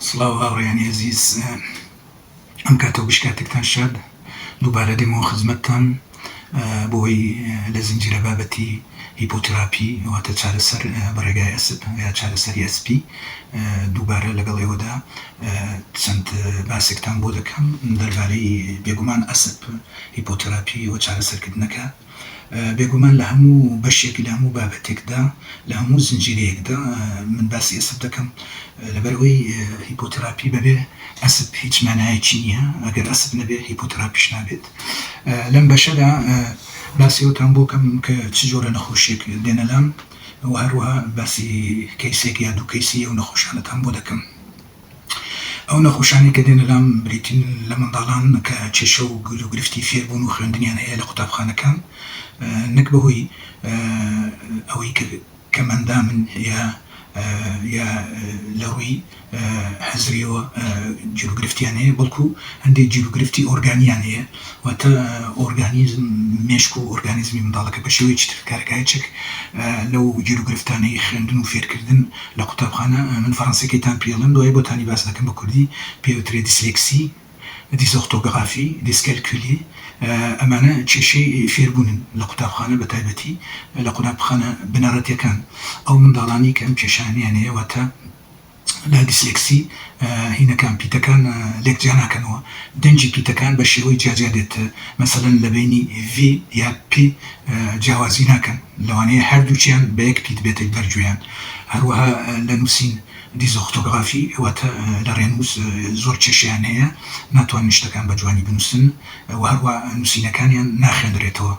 سڵاو هاوڕێیانی ئەزیز ئەم کاتە وش کاتێکتان شاد دووبارە دێمەوە خزمەتتان بۆی لە زنجیرە بابەتی هیپۆتراپی واتە چارەسەر بە ڕێگای ئەسپ یا چارەسەری ئەسپی دووبارە لەگەڵ ئێوەدا چەند باسێکتان بۆ دەکەم دەربارەی بێگومان ئەسپ هیپۆتراپی و چارەسەرکردنەکە بێگومان لە هەموو بەشێک، لە هەموو بابەتێکدا، لە هەموو زنجیرەیەکدا، من باسی ئەسپ دەکەم، لەبەر ئەوەی هیپۆتراپی بەبێ ئەسپ هیچ مانایەکی نییە، ئەگەر ئەسپ نەبێت هیپۆتراپیش نابێت. لەم بەشەدا باسی ئەوتان بۆ کەم کە چ جۆرە نەخۆشییەک دێنە لام و هەروەها باسی کەیسێک یا دوو کەیسی ئەو نەخۆشانەتان بۆ دەکەم. ئەو نەخۆشانەی کە دێنە لام بریتین لە منداڵان کە کێشە و گل و گرفتی فێربوون و خوێندنیان هەیە لە قوتابخانەکان نەک بەهۆی ئەوەی کە کەم ئەندامن یا یا لە ڕووی هزریەوە گیروگرفتیان هەیە بەڵکو هەندێک گیروگرفتی ئۆرگانیان هەیە واتە ئۆرگانیزم، مێشک و ئۆرگانیزمی منداڵەکە بە شێوەیەکی تر کارەکایە چەک لەو گیروگرفتانەی خوێندن و فێرکردن لە قوتابخانە، من فەرەنسیەکەی تان پیێلن دوای بۆتانی باس دەکەم بە کوردی پێ وترێ دیسلێکسی، دیسۆختۆگڕافی، دیسکەلکولی ئەمانە کێشەی فێربوونن لە قوتابخانە بە تایبەتی لە قونابخانە بنەڕەتیەکان ئەو منداڵانەی کە ئەم کێشانەیان هەیە واتە. لە دیسلێکسی هینەکان پیتەکان لێک جیا ناکەنەوە دەنگی پیتەکان بە شێوەی جیا جیا دێت مەسەلەن لە بەینی V یا P جیاوازی ناکەن لەوانەیە هەردووکیان بە یەک پیت بێتە بەر گوێیان هەروەها لە نووسین دیزۆختۆگرافی واتە لە ڕێنووس زۆر کێشەیان هەیە ناتوانن شتەکان بە جوانی بنووسن و هەروە نووسینەکانیان ناخوێنرێتەوە.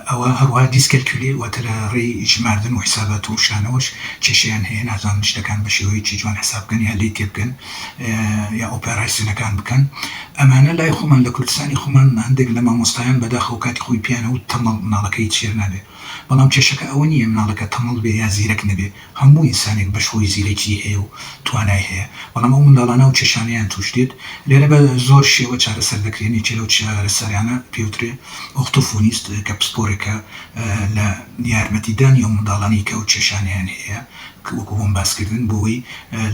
ئەوە هەروەها دیسکەلکیولێ واتە لە ڕێی ژماردن و حیسابات و شانەوەش کێشەیان هەیە نازانن شتەکان بە شێوەیەکی جوان حیساب بکەن یا لێی تێبگەن یا ئۆپێڕایسیۆنەکان بکەن ئەمانە لای خۆمان لە کوردستانی خۆمان هەندێک لە مامۆستایان بەداخەوە کاتی خۆی پێیان وت تەمەڵ مناڵەکەی هیچ فێر نابێ بەڵام کێشەکە ئەوە نییە مناڵەکە تەمەڵ بێ یا زیرەک نەبێ هەموو ئینسانێک بەش هۆی زیرەکی هەیە و توانای هەیە، بەڵام ئەو منداڵانە و کێشانەیان تووش دێت، لێرە بە زۆر شێوە چارەسەر دەکرێن، یەکێ لەو چارەسەرانە پێوترێ ئۆختۆفۆنیست کە پسپۆرێکە لە یارمەتیدانی ئەو منداڵانەی کە ئەو کێشانەیان هەیە وەکو بۆم باس کردن بۆوەی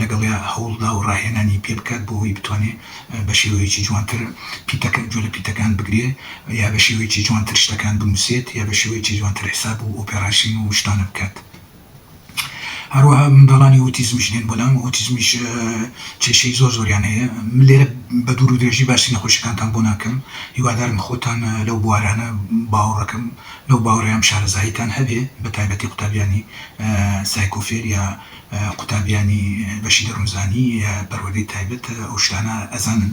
لەگەڵیا هەوڵدا و ڕاهێنانی پێ بکات بۆوەی بتوانێ بە شێوەیەکی جوانتر پیتەکە جوێ لە پیتەکان بگرێ یا بە شێوەیەکی جوانتر شتەکان بنووسێت یا بە شێوەیەکی جوانتر حیساب و ئۆپێڕاشین و شتانە بکات. هەروەها منداڵانی ئۆتیزمیش دێن بۆلام، ئۆتیزمیش کێشەی زۆر زۆریان هەیە، من لێرە بە دوور و درێژی باسی نەخۆشیەکانتان بۆ ناکەم، هیوادارم خۆتان لەو بوارانە باوەڕەکەم لەو باوەڕەیام شارەزاییتان هەبێ بە تایبەتی قوتابیانی سایکۆفێر یا قوتابیانی بەشی دەروونزانی یا پەروەردەی تایبەت ئەو شتانە ئەزانن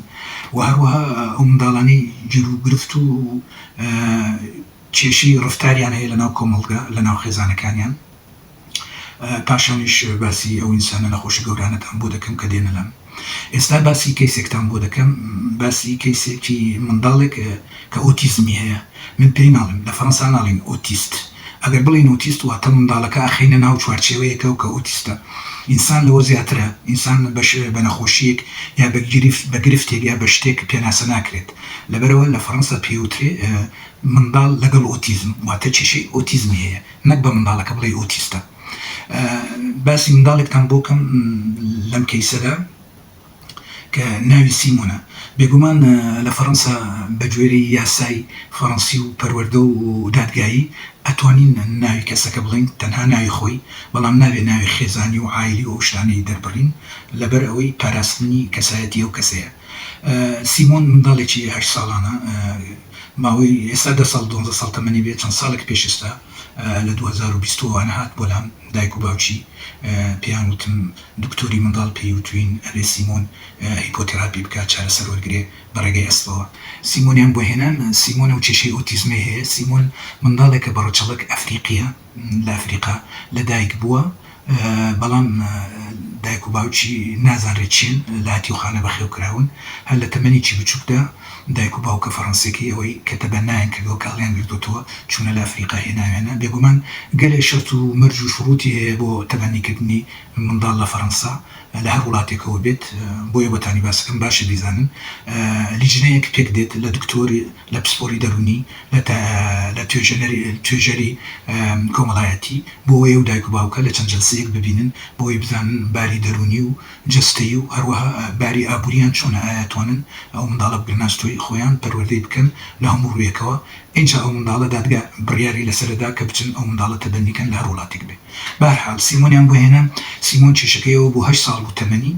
و هەروەها ئەو منداڵانەی گیرو گرفت و کێشەی ڕەفتاریان هەیە لەناو کۆمەڵگا لەناو خێزانەکانیان پاشانیش باسی ئەو ئینسانە نەخۆشە گەورانەتان بۆ دەکەم کە دێنە لام ئێستا باسی کەیسێکتان بۆ دەکەم باسی کەیسێکی منداڵێک کە ئۆتیزمی هەیە من پێی ناڵێم لە فەرەنسا ناڵین ئۆتیست ئەگەر بڵین ئۆتیست واتە منداڵەکە ئەخەینە ناو چوارچێوەیەکە و کە ئۆتیستە ئینسان لەوە زیاترە ئینسان بەش بە نەخۆشیەک یا بە گرفت بە گرفتێک یا بە شتێک پێناسە ناکرێت لەبەرەوە لە فەرەنسا پێوترێ منداڵ لەگەڵ ئۆتیزم واتە کێشەی ئۆتیزمی هەیە نەک بە منداڵەکە بڵێی ئۆتیستە باسی منداڵێکتان بۆ کەم لەم کەیسەدا کە ناوی سیمۆنە بێگومان لە فەڕەنسا بەگوێرەی یاسای فەڕەنسی و پەروەردە و دادگایی ئەتوانین ناوی کەسەکە بڵێین تەنها ناوی خۆی بەڵام نابێ ناوی خێزانی و عایلی و ئەو شتانەی دەربڕین لەبەر ئەوەی پاراستنی کەسایەتی ئەو کەسەیە سیمۆن منداڵێکی هەشت ساڵانە ماوەی ئێستا دە ساڵ دوانزە ساڵ تەمەنی بێ چەند ساڵێک پێش ئێستا لە دوو هەزار و بیست و وانە هات بۆ لام دایک و باوکی پێیان وتم دکتۆری منداڵ پێی وتوین ئەبێ سیمۆن هیپۆتێراپی بکات چارەسەر وەرگرێ بە ڕێگەی ئەسپەوە سیمۆنیان بۆ هێنان سیمۆنە و کێشەی ئۆتیزمەی هەیە سیمۆن منداڵێکە بە ڕەچەڵەک ئەفریقیە لە ئەفریقا لە دایک بووە بەڵام دایک و باوکی نازانرێت چین لە هەتیوخانە بەخێو کراون هەر لە تەمەنێکی بچووکدا دایک و باوکە فەڕەنسیەکەی ئەوەی کە تەبەنایان کردووە کە هەڵیان گردۆتەوە چوونە لە ئەفریقا هێناویانە بێگومان گەلێ شەرت و مەرج و شڕوتی هەیە بۆ تەبەنی کردنی منداڵ لە فەڕەنسا لە هەر وڵاتێکەوە بێت بۆیە بۆتانی باس ئەکەم باشە بیزانن لیجنەیەک پێک دێت لە دکتۆر لە پسپۆری دەروونی، لە توێژەری کۆمەڵایەتی، بۆوەیە و دایک و باوکە لە چەند جەلسەیەک ببینن بۆوەی بزانن باری دەروونی و جەستەیی و هەروەها باری ئابووریان چۆنە ئایا توانن ئەو منداڵە بگرنە ئەستۆی خۆیان پەروەردەی بکەن لە هەموو ڕوویەکەوە ئینجا ئەو منداڵە دادگا بڕیاری لەسەر ئەدا کە بچن ئەو منداڵە تەبەنی کەن لە هەر وڵاتێک بێ بەهەرحال سیمۆنیان بۆ هێنا سیمۆن کێشەکەی ئەوە بوو هەشت ساڵ بوو تەمەنی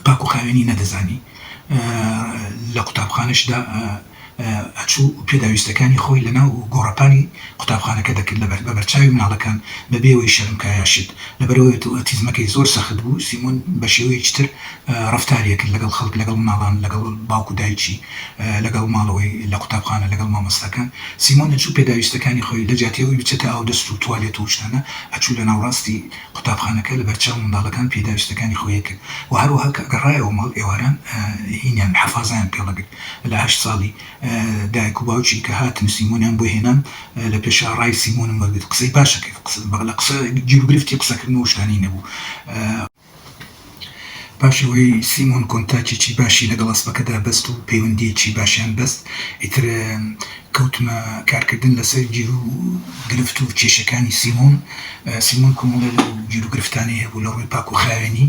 پاکو خاوێنی نەدەزانی لە قوتابخانەشدا ئەچوو پێداویستەکانی خۆی لەناو گۆڕەپانی قوتابخانەکە دەکرد لە بەربەرچاوی مناڵەکان بەبێ ئەوەی شەرم کایا شێت لەبەرئەوەی ئۆتیزمەکەی زۆر سەخت بوو سیمۆن بەشێوەیەکی تر ڕەفتاری ئەکرد لەگەڵ خەڵک لەگەڵ مناڵان لەگەڵ باوکو دایکی لەگەڵ ماڵەوەی لە قوتابخانە لەگەڵ مامۆستاکان سیمۆن ئەچوو پێداویستەکانی خۆی لەجیاتی ئەوەی بچێتە ئاودەست و توالێت و ئەوشتانە ئەچوو لەناوڕاستی قوتابخانەکە لە بەرچاو منداڵەکان پێداویستەکانی خۆی ئەکرد و هەروەها کە گەڕایەوە ماڵ ئێواران هینیان محەفازەیان پێڵ ئەگرت لە هەشت ساڵی دایک و باوکی کە هاتن سیمۆنیان بۆ هێنام لە پێشا ڕای سیمۆنم وەرگرت قسەی باش ئەکرد لە قسە گیروگرفتی قسەکردن و ئەو شتانەی نەبوو. پاش ئەوەی سیمۆن کۆنتاکێکی باشی لەگەڵ ئەسپەکەدا بەست و پەیوەندییەکی باشیان بەست، ئیتر کەوتمە کارکردن لەسەر گیروگرفت و کێشەکانی سیمۆن. سیمۆن کۆمەڵێ لەو گیروگرفتانەی هەبوو لە ڕووی پاکوخاوێنی،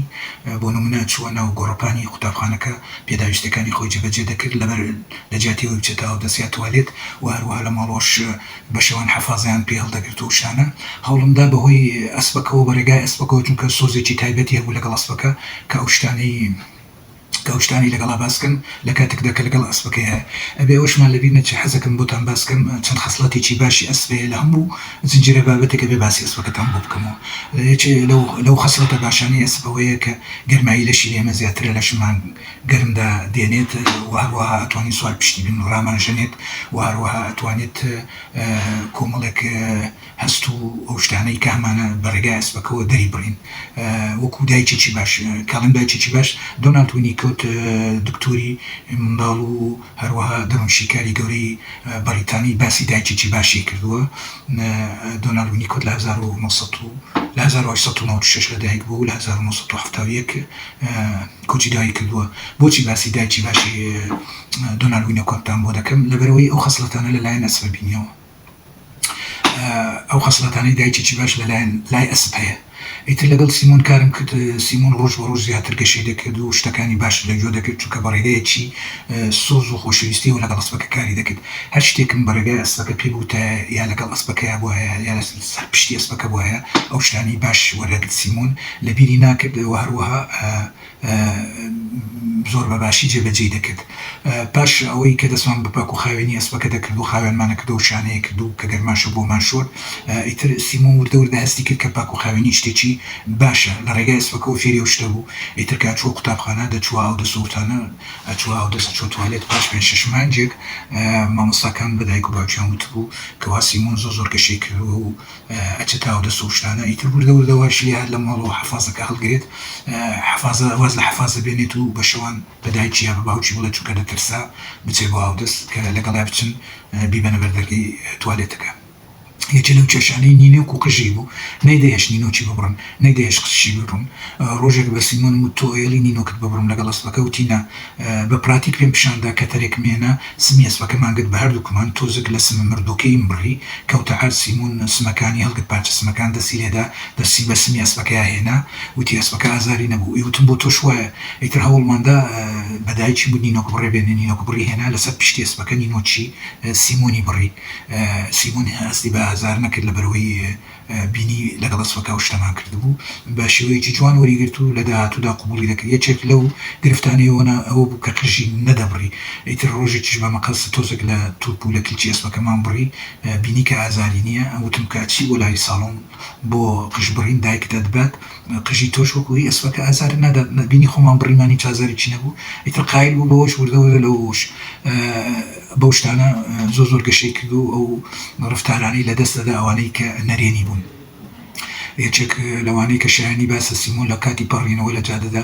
بۆ نموونە چووە ناو گۆڕەپانی قوتابخانەکە، پێداویستییەکانی خۆی جێبەجێ دەکرد، لەبەر لەجیاتی ئەوەی بچێتە ئاودەست یا توالێت و هەروەها لە ماڵەوەش، بە شەوان حەفازەیان پێ هەڵدەگرت و شانە هەوڵمدا بەهۆی ئەسپەکەوە بە رێگای ئەسپەکەوە چونکە سۆزێکی تایبەتی هەبوو لەگەڵ ئەسپەکە کە ئەو شتانەی کە ئەو شتانەی لەگەڵا باس کەم لە کاتێکدا کە لەگەڵ ئەسپەکەیا ئەبێ ئەوەشمان لەبیر نەچێ حەزەکەم بۆتان باس کەم چەند خەسڵەتێکی باشی ئەسپ هەیە لە هەموو زنجیرە بابەتێک ئەبێ باسی ئەسپەکەتان بۆ بکەمەوە یەکێ لەو لەو خەسڵەتە باشانەی ئەسپ ئەوەیە کە گەرمایی لەشی ئێمە زیاترە لەشمان گەرم دا دێنێت و هەروەها ئەتوانێت سوار پشتی بن ڕامانژەنێت و هەروەها ئەتوانێت کۆمەڵێک هەست و ئەو شتانەی کە هەمانە بە ڕێگای ئەسپەکەوە دەری بڕین وەکو دایکێکی باش کاڵێن دایکێکی باش دۆنالد وینیکۆت دکتۆری منداڵ و هەروەها دەروونشیکاری گەورەی بەڕیتانی باسی دایکێکی باشی کردووە دۆنالد وینیکۆت لە هەزار و نۆ سەد و لە هەزار و هەشت سەد و نەوەد و شەش لە دایک بوو لە هەزار و نۆ سەد و حەفتا و یەک کۆچی دایک کردووە، بۆچی باسی دایکی باشی دۆنالد وینۆکۆتتان بۆ دەکەم؟ لەبەرئەوەی ئەو خەسڵەتانە لەلایەن ئەسپە بینیەوە، ئەو خەسڵەتانەی دایکێکی باش لەلایەن لای ئەسپ هەیە. ئیتر لەگەڵ سیمۆن کارم کرد، سیمۆن ڕۆژ بە ڕۆژ زیاتر گەشەی دەکرد و شتەکانی باشتر لە گوێ دەگرت، چونکە بە ڕێگەیەکی سۆز و خۆشەویستییەوە لەگەڵ ئەسپەکە کاری دەکرد. هەر شتێکم بە ڕێگای ئەسپەکە پێ بوتایە، یا لەگەڵ ئەسپەکەیا بوایە، یا لەسەر پشتی ئەسپەکە بوایە، ئەو شتانەی باش وەردەگرت. سیمۆن. لەبیری ناکرد و هەروەها زۆر بە باشی جێبەجێی دەکرد. پاش ئەوەی کە دەستمان بە پاک و خاوێنی ئەسپەکە دەکرد و خاوێنمانە کردو و شانەیەک کرد و کە گەرماشە بۆمان شۆرد، ئیتر سیمۆن وردە وردە هەستی کرد کە پاک و خاوێنی شتێکی باشە. لە ڕێگای ئەسپەکەوە فێری ئەو شتە بوو. ئیتر کە ئەچووە قوتابخانە، دەچووە ئاودەست و ئەوتانە، ئەچووە ئاودەست، ئەچووە توالێت. پاش پێنج شەش مانگێک مامۆستاکان بە دایک و باوکیان وتبوو کەوا سیمۆن زۆر زۆر گەشەی کردووە و، چەتە و دەسە و شتانە ئیتر وردە وردە وایش لێ هات لە ماڵ و حەفازەکە هەڵگرێت حەفازە واز لە حەفازە بێنێت و بە شەوان بە دایکی یا بە باوکی بڵێت چونکە دەترسا بچێت بۆ ئاودەست کە لەگەڵیا بچن بیبەنە بەر دەرگەی توالێتەکە یەکێ لەو کێشانەی نینۆک و قژی بوو نەیدەهێشت نینۆکی ببڕن نەیدەهێشت قژشی ببڕن ڕۆژێک بە سیمۆنم وت تۆ ئێڵی نینۆکت ببڕم لەگەڵ ئەسپەکە وتی نا بە پراتیک پێم پیشان دا کە تەرێکم هێنا سمی ئەسپەکە مانگرت بە هەردووکمان تۆزێک لە سمە مردووەکەییم بڕی کەوتە عەر سیمون سمەکانی هەڵگرت پارچە سمەکان دەستی لێدا دەستی بە سمی ئەسپەکەیا هێنا وتی ئەسپەکە ئازاری نەبوو ی وتم بۆ تۆش وایە ئیتر هەوڵمان دا بە دایکی بوو نینۆک بڕێ بێنێ نینۆک بڕی هێنا لە سەر پشتی ئەسپەکە نینۆکی سیمونی بڕی سیمون هەستی بە ئازار نەکرد لە بەرەوەی بینی لەگەڵ ئەسپەکە ئەو شتەمان کردبوو بە شێوەیەکی جوان وەریگرت و لە داهاتوودا قبوڵی دەکرد یەکێک لەو گرفتانەی ئۆنا ئەوە بوو کە قژی نەدەبڕی ئیتر ڕۆژێکیش بە مەقەست تۆزێک لە توپ و لە کلکی ئەسپەکەمان بڕی بینی کە ئازاری نییە وتم کە ئەچی بۆ لای ساڵۆن بۆ قژبڕین دایکت ئەتبات قژی تۆش وەکو هی ئەسپەکە ئازارت نادات لە بینی خۆمان بڕیمان هیچ ئازارێکی نەبوو ئیتر قایل بوو بەوەش وردە وردە لەوەوەش بەو شتانە زۆر زۆر گەشەی کرد و ئەو ڕەفتارانەی لە دەست دەدا ئەوانەی کە نەرێنی بوون یەکێک لەوانەی کە شایەنی باسە سیمۆن لە کاتی پەڕینەوە لە جادەدا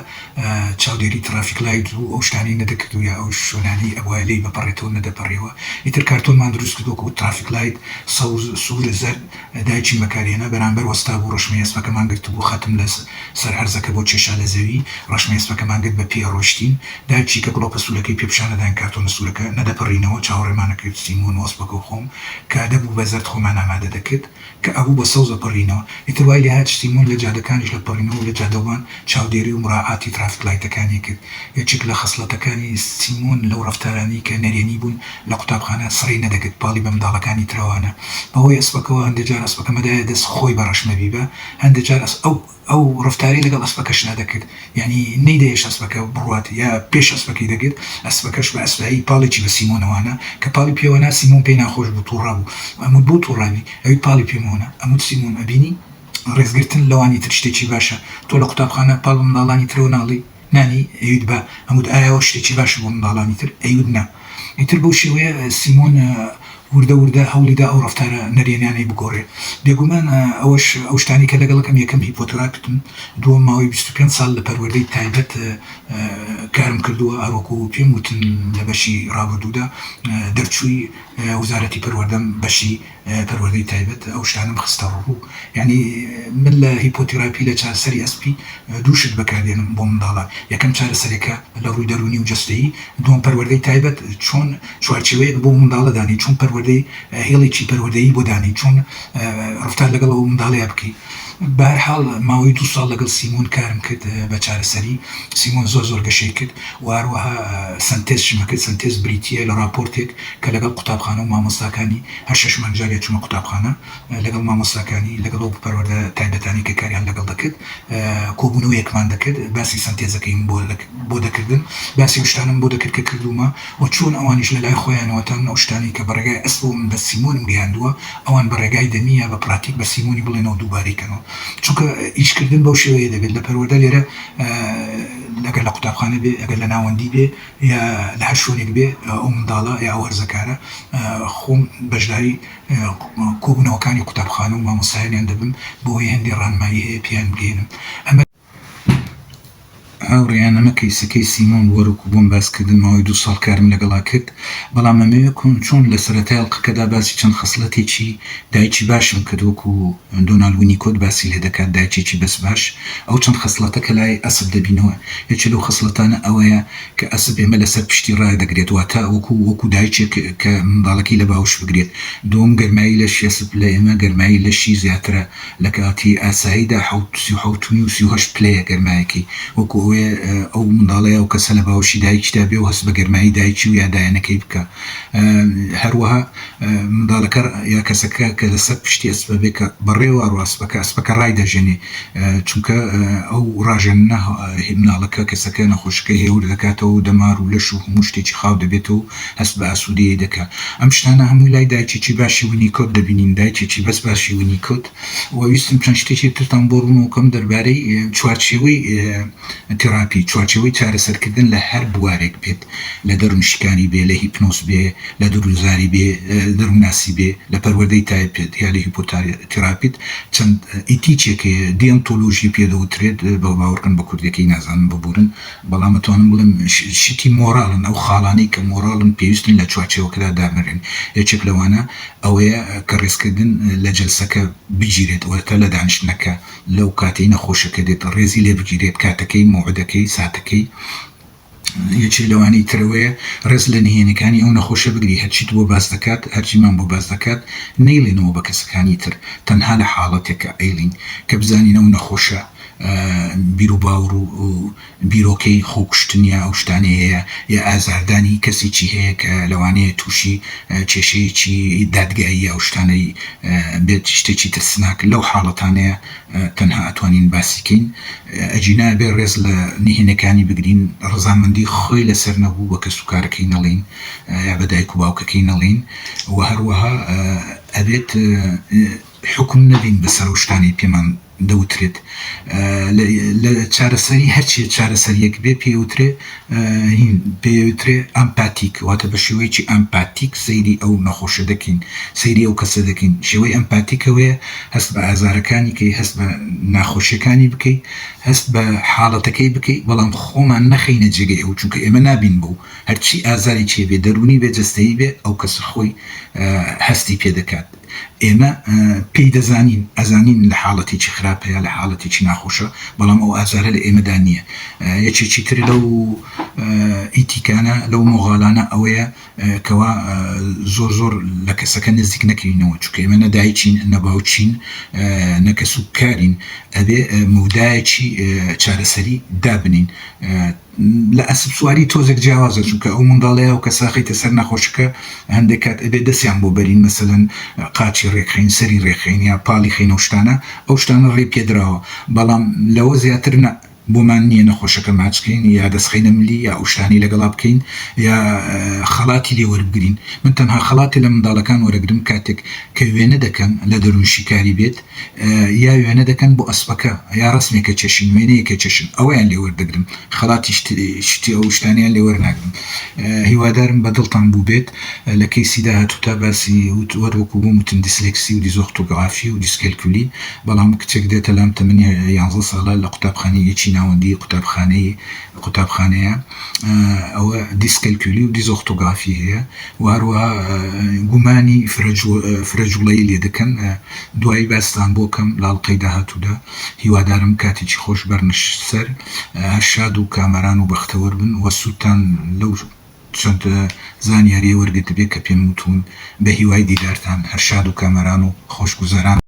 چاودێری تڕافیک لایت و ئەو شتانەی نەدەکرد و یا ئەو شوێنانەی ئەبوایە لێی بپەڕێتەوە نەدەپەڕیەوە ئیتر کارتۆنمان دروست کرد وەکو تڕافیک لایت سەوز سوور زەرد دایکی مەکارێنە بەرامبەر وەستابوو، ڕەشمەی ئەسپەکەمان گرتبوو، خەتم لە سەر هەرزەکە بۆ کێشا لە زەوی، ڕەشمەی ئەسپەکەمان گرت بە پێ ڕۆیشتین، دایکی کە گڵۆپە سوورەکەی پێ پیشان نەداین کارتۆنە سوورەکە نەدەپەڕینەوە، چاوەڕێمان ئەکرد بچین بۆ نۆ ئەسپەکە و خۆم کە دەبوو بە زەرد خۆمان ئامادە دەکرد کە ئەبوو بە سەوز ئەپەڕینەوە، ئیتر وای لێ هات شتین، مۆم لە جادەکانیش لە پەڕینەوە و لە جادەوان چاودێری و مراعاتی ترافیک لایتەکانی کرد، یەکێک لە خەسڵەتەکانی سیمۆن لەو ڕەفتارانەی کە نەرێنی بوون، لە قوتابخانە سڕی نەدەگرت پاڵی بە منداڵەکانی ترەوانە بەهۆی ئەسپەکەوە هەندێ جار ئەسپەکە مەدایە دەست خۆی بە ڕەش مەبیبا هەندێ جار ئەس ئەو ئەو ڕفتارەی لەگەڵ ئەسپەکەشدا دەکرد یانی نەیدەهێشت ئەسپەکە بڕوات یا پێش ئەسپەکەی دەگرت ئەسپەکەش بە ئەسپایی پاڵێکی بە سیمۆنەوانە کە پاڵی پێوەنا سیمۆن پێی ناخۆش بوو توڕە بوو ئەموت بۆ توڕابی ئەویت پاڵی پێ مۆنە ئەموت سیمۆن ئەبینی ڕێزگرتن لەوانی تر شتێکی باشە تۆ لە قوتابخانە پاڵ بە منداڵانی ترەوە ناڵی نانی ئەیوت بە ئەموت ئایا ئەوە شتێکی باشە بۆ منداڵانی تر؟ ئەیوت نا. ئیتر بەو شێوەیە سیمۆن وردە وردە هەوڵی دا ئەو ڕەفتارە نەرێنیانەی بگۆڕێ. بێگومان ئەوەش ئەو شتانەی کە لەگەڵ ئەم یەکەم هیپۆتراکتم دووەم ماوەی بیست و پێنج ساڵ لە پەروەردەی تایبەت کارم کردووە هەروەکو پێم وتن لە بەشی ڕابردوودا دەرچووی وزارەتی پەروەردەم بەشی پەروەردەی تایبەت ئەو شتانەم خستە ڕوو یانی من لە هیپۆتیراپی لە چارەسەری ئەسپی دوو شت بەکار دێنم بۆ منداڵان یەکەم چارەسەرێکە لە ڕووی دەروونی و جەستەیی دووەم پەروەردەی تایبەت چۆن چوارچێوەیەک بۆ منداڵە دانێی چۆن پەروەردەی هێڵێکی پەروەردەیی بۆ دانێی چۆن ڕەفتار لەگەڵ ئەو منداڵەیا بکەی. بە هەر حاڵ ماوەی دوو ساڵ لەگەڵ سیمۆن کارم کرد بە چارەسەری. سیمۆن زۆر زۆر گەشەی کرد و هەروەها سەنتێز شمە کرد. سەنتێز بریتییە لە ڕاپۆرتێک کە لەگەڵ قوتابخانە و مامۆستاکانی، هەر شەش مانگ جارێ ئەچوومە قوتابخانە لەگەڵ مامۆستاکانی، لەگەڵ ئەو پەروەردە تایبەتانەی کە کاریان لەگەڵ دەکرد کۆبوونەوەیەکمان دەکرد، باسی سەنتێزەکەیم بۆ دەکردن، باسی ئەو شتانەم بۆ دەکرد کە کردوومە و چۆن ئەوانیش لە لای خۆیانەوە تەنانەت ئەو شتانەی کە بە ڕێگای ئەسپەوە من بە سیمۆنم گەیاندووە، ئەوان بە ڕێگای دەمی یا بە پراتیک بە سیمۆنی بڵێنەوە دووبارەی کەنەوە چونکە ئیش کردن بەو شێوەیە دەبێت لە پەروەردە لێرە ئەگەر لە قوتابخانە بێ ئەگەر لە ناوەندی بێ یا لە هەر شوێنێک بێ ئەو منداڵە یا ئەو هەرزەکارە خۆم بەشداری کۆبوونەوەکانی قوتابخانە و مامۆستایانیان دەبم بۆ ئەوەی هەندێ ڕانمایی هەیە پێیان بگەیەنم ئەمە هاوڕێیان ئەمە کەیسەکەی سیمۆن وەرۆکو بۆم باس کردن ماوەی دوو ساڵ کارم لەگەڵا کرد بەڵام ئەمەوێ کۆم چۆن لە سەرەتای ئەڵقەکەدا باسی چەند خەسڵەتێکی دایکی باشم کرد وەکو دۆنال وینیکۆت باسی لێ دەکات دایکێکی بەس باش ئەو چەند خەسڵەتە کە لای ئەسپ دەبینەوە یەکێ لەو خەسڵەتانە ئەوەیە کە ئەسپ ئێمە لەسەر پشتی ڕادەگرێت واتە وەکو وەکو دایکێک کە منداڵەکەی لە باوش بگرێت دووەم گەرمایی لەشی ئەسپ لە ئێمە گەرمایی لەشی زیاترە لە کاتی ئاساییدا حەوت سی و حەوت نیو سی و هەشت پلەیە گەرمایەکی وەکو ئەوەیە ئەو منداڵە یا ئەو کەسە لە باوەشی دایکیدا بێ و هەست بە گەرمایی دایکی و یا دایەنەکەی بکا هەروەها منداڵەکە یا کەسەکە کە لە سەر پشتی ئەسپە بێ کە بەڕێوە ئەڕوا ئەسپەکە ئەسپەکە ڕای دەژەنێ چونکە ئەو ڕاژەننە منداڵەکە کەسەکە نەخۆشەکەی هێور دەکاتەوە و دەمار و لەش و هەموو شتێکی خاو دەبێتەوە و هەست بە ئاسوودەیی دەکا. ئەم شتانە هەمووی لای دایکێکی باشی وینیکۆد دەبینین، دایکێکی بەس باشی وینیکۆد. وە ویستم چەند شتێکی ترتان بۆ ڕوون وکەم دەربارەی چوارچێوەی تێڕاپی، چوارچێوەی چارەسەرکردن لە هەر بوارێک بێت، لە دەروون شکانی بێ، لە هیپنۆز بێ، لە درووزاری بێ، دەروونناسی بێ، لە پەروەردەی تایپێت یا لە هیپۆتیراپیت چەند ئیتیکێک هەیە، دیۆنتۆلۆژی پێ دەوترێت، بەوە باوەڕکەن بە کوردیەکەی نازانم ببوورن. بەڵام ئەتوانم بڵێم شتی مۆڕاڵن، ئەو خاڵانەی کە مۆڕاڵن پێویستن لە چوارچێوەکەدا دابنرێن، یەکێک لەوانە ئەوەیە کە ڕێزکردن لە جەلسەکە بگیرێت، واتە لە دانیشتنەکە، لەو کاتەی نەخۆشەکە دێت ڕێزی لێ بگیرێت، کاتەکەی، مەوعدەکەی، ساتەکەی. یەکێک لەوانەی تر ئەوەیە ڕێز لە نهێنیەکانی ئەو نەخۆشە بگری، هەرچیت بۆ باس دەکات، هەرچی من بۆ باس دەکات نەیڵێنەوە بە کەسەکانی تر، تەنها لە حاڵەتێکە ئەیڵێین کە بزانین ئەو نەخۆشە، بیروباوڕ و بیرۆکەی خۆکوشتن یا ئەو شتانەی هەیە یا ئازاردانی کەسێکی هەیە کە لەوانەیە تووشی کێشەیەکی دادگایی یا ئەو شتانەی بێت شتێکی ترسناک لەو حاڵەتانەیە تەنها ئەتوانین باسی کەین ئەگینا ئەبێ ڕێز لە نهێنیەکانی بگرین ڕەزامەندی خۆی لەسەر نەبوو بە کەس و کارەکەی نەڵێین یا بە دایک و باوکەکەی نەڵێین وە هەروەها ئەبێت حوکم نەبین بەسەر ئەو شتانەی پێمان دەوترێت لە چارەسەری هەرچیە چارەسەریەک بێ پێوترێ هین پێوترێ ئەمپاتیک واتە بە شێوەیەکی ئەمپاتیک سەیری ئەو نەخۆشە دەکەین سەیری ئەو کەسە دەکەین شێوەی ئەمپاتیکەوەیە هەست بە ئازارەکانی کەی هەست بە ناخۆشیەکانی بکەی هەست بە حاڵەتەکەی بکەی بەڵام خۆمان نەخەینە جێگەی ئەو چونکە ئێمە نابین بۆ هەرچی ئازاری چێ بێ دەرونی بێ جەستەیی بێ ئەو کەسە خۆی هەستی پێ دەکات. ئێمە پێی دەزانین، ئەزانین لە حاڵەتێکی خراپەیە، لە حاڵەتێکی ناخۆشە، بەڵام ئەو ئازارە لە ئێمەدا نییە. یەکێکی تر لەو ئیتیکانە، لەو مۆغالانە ئەوەیە کەوا زۆر زۆر لە کەسەکە نزیک نەکەوینەوە، چونکە ئێمە نە دایکین، نە باوکین، نە کەسوکارین، ئەبێ مەودایەکی چارەسەری دابنێین. لە ئەسپ سواری تۆزێک جیاوازە چونکە ئەو منداڵەیە و کەساخەیتە سەر نەخۆشەکە هەندێک کات ئەبێ دەسیان بۆ بەرین مەسەلەن قاچی رێکخەین سەری رێکخەین یا پاڵی خەین ئەو شتانە ئەو شتانە ڕێی پێدراوە بەڵام لەوە زیاتر نە بۆمان نییە نەخۆشەکە ماچکەین یا دەسخەینە ملی یا ئەو شتانەی لەگەڵا بکەین یا خەڵاتی لێ وەربگرین من تەنها خەڵاتی لە منداڵەکان وەرەگرم کاتێک کە وێنە دەکەم لە دەروونشیکاری بێت یا وێنە دەکەن بۆ ئەسپەکە یا ڕەسمێکە چەشن وێنەیەکە چەشن ئەوەیان لێ وەردەگرم خەڵاتیش شتی ئەو شتانەیان لێ وەرناگرم هیوادارم بە دڵتان بووبێت لە کەیسی داهاتوو تا باسی وت وەر وەکو بۆم وتن دیسلێکسی و دیزۆختۆگڕافی و دیسکەلکولی بەڵام کچێک دێتە لام تەمەنی یانزە ساڵە لە قوتابخانەی یەکی ناوەندی قوتابخانەی قوتابخانەیە، ئەوە دیسکەلکولی و دیزۆختۆگافی هەیە و هەروەها گومانی فرەجووڵەیی لێ دەکەن، دوایی باستان بۆ کەم لە ئەڵقەی داهاتوودا، هیوادارم کاتێکی خۆش بەرنە سەر، هەر شاد و کامەران و بەختەوەر بن و سوودتان لەو چەند زانیارییە وەرگرتبێ کە پێم وتوون، بەهیوای دیدارتان، هەر شاد و کامەران و خۆشگوزەران.